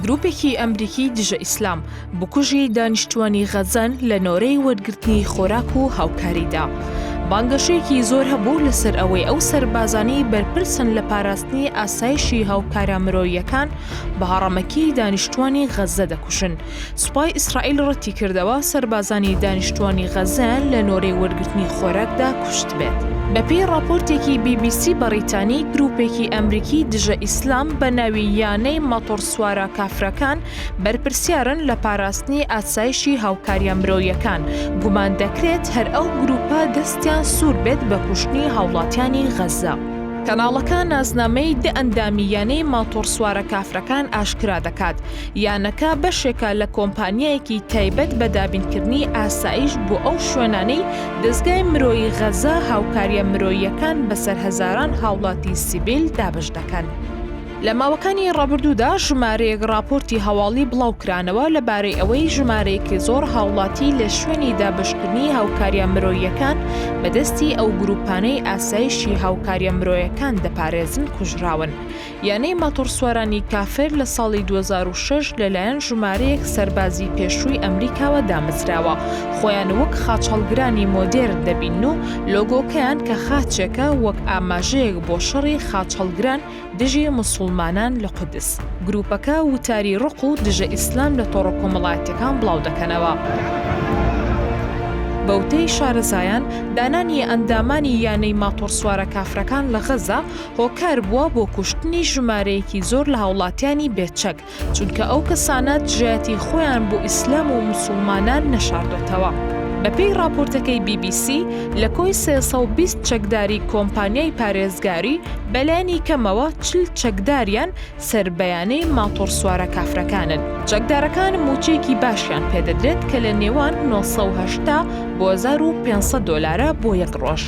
گروپێکی ئەمریکی دژە ئیسلام بکوژی دانیشتوانی غەزەن لە نۆرەی وەرگرتنی خۆراک و هاوکاریدا. بانگەشەیەکی زۆر هەبوو لەسەر ئەوەی ئەو سەربازانەی بەرپرسن لە پاراستنی ئاسایشی هاوکارە مرۆیەکان بە هەڕەمەکی دانیشتوانی غەزە دەکوژن سوپای ئیسرائیل ڕەتیکردەوە سەربازانی دانیشتووانی غەزەیان لە نۆرەی وەرگرتنی خۆراکدا کوشتبێت. بەپێی ڕاپۆرتێکی بی بی سی بەڕیتانی، گرووپێکی ئەمریکی دژە ئیسلام بە ناوی یانەی ماتۆڕسوارە کافرەکان بەرپرسیارن لە پاراستنی ئاسایشی هاوکارییە مرۆیەکان، گومان دەکرێت هەر ئەو گرووپە دەستیان سوور بێت بە کوشتنی هاوڵاتیانی غەزە. کەناڵەکە نازنامەی دە ئەندامی یانەی ماتۆڕسوارە کافرەکان ئاشکرا دەکات، یانەکە بەشێکە لە کۆمپانیایەکی تایبەت بە دابینکردنی ئاسایش بۆ ئەو شوێنانەی دەزگای مرۆیی غەزە هاوکاریە مرۆییەکان بەسەر هەزاران هاوڵاتی سیڤیل دابەش دەکەن. لە ماوەکانی ڕابردوودا ژمارەیەک ڕاپۆرتی هەواڵی بڵاوکرانەوە لەبارەی ئەوەی ژمارەیەکی زۆر هاوڵاتی لە شوێنی دابەشکردنی هاوکاریە مرۆییەکان بەدەستی ئەو گروپانەی ئاسایشی هاوکاریە مرۆیەکان دەپارێزن کوژراون یانەی ماتۆڕسوارانی کافر لە ساڵی دوو هەزار و شەش لەلایەن ژمارەیەک سەربازی پێشووی ئەمریکاوە دامەزراوە، خۆیان وەک خاچهەڵگرانی مۆدێرن دەبینن و لۆگۆکەیان کە خاچێکە وەک ئاماژەیەک بۆ شەڕی خاچهەڵگران دژی موسوڵمانان لە قودس. گرووپەکە وتاری ڕق و دژە ئیسلام لە تۆڕە کۆمەڵایەتییەکان بڵاو دەکەنەوە. بەوتەی شارەزایان، دانانی ئەندامانی یانەی ماتۆڕسوارە کافرەکان لە غەزە، هۆکار بووە بۆ کوشتنی ژمارەیەکی زۆر لە هاوڵاتیانی بێچەک چونکە ئەو کەسانە دژایەتی خۆیان بۆ ئیسلام و مسلمانان نەشاردۆتەوە. بەپێی ڕاپۆرتەکەی بی بی سی، لە کۆی سێ سەد و بیست چەکداری کۆمپانیای پارێزگاری، بەلانی کەمەوە چل چەکداریان سەر بەیانەی ماتۆڕسوارە کافرەکانن. چەکدارەکان مووچەیەکی باشیان پێدەدرێت کە لە نێوان نۆ سەد و هەشتا بۆ هەزار و پێنج سەد دۆلارە بۆ یەک ڕۆژ.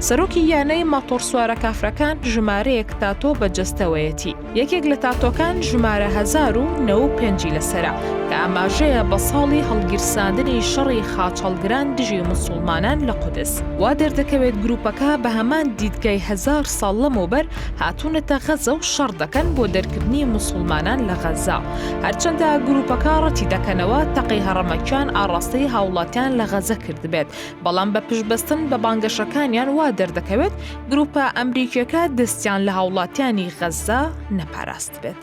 سەرۆکی یانەی ماتۆڕسوارە کافرەکان ژمارەیەک تاتۆ بە جەستەوەیەتی. یەکێک لە تاتۆکان ژمارە هەزار و نەوە و پێنجی لەسەرە کە ئاماژەیە بە ساڵی هەڵگیرساندنی شەڕی خاچهەڵگران دژی موسوڵمانان لە قودس. وا دەردەکەوێت گرووپەکە بە هەمان دیدگای هەزار ساڵ لەمەوبەر هاتوونەتە غەزە و شەڕ دەکەن بۆ دەرکردنی موسڵمانان لە غەزە هەرچەندە گروپەکە ڕەتی دەکەنەوە تەقەی هەڕەمەکیان ئاڕاستەی هاوڵاتیان لە غەزە کردبێت بەڵام بە پشبەستن بە بانگەشەکانیان وا دەردەکەوێت گروپە ئەمریکیەکە دەستیان لە هاوڵاتیانی غەزە نەپاراست بێت.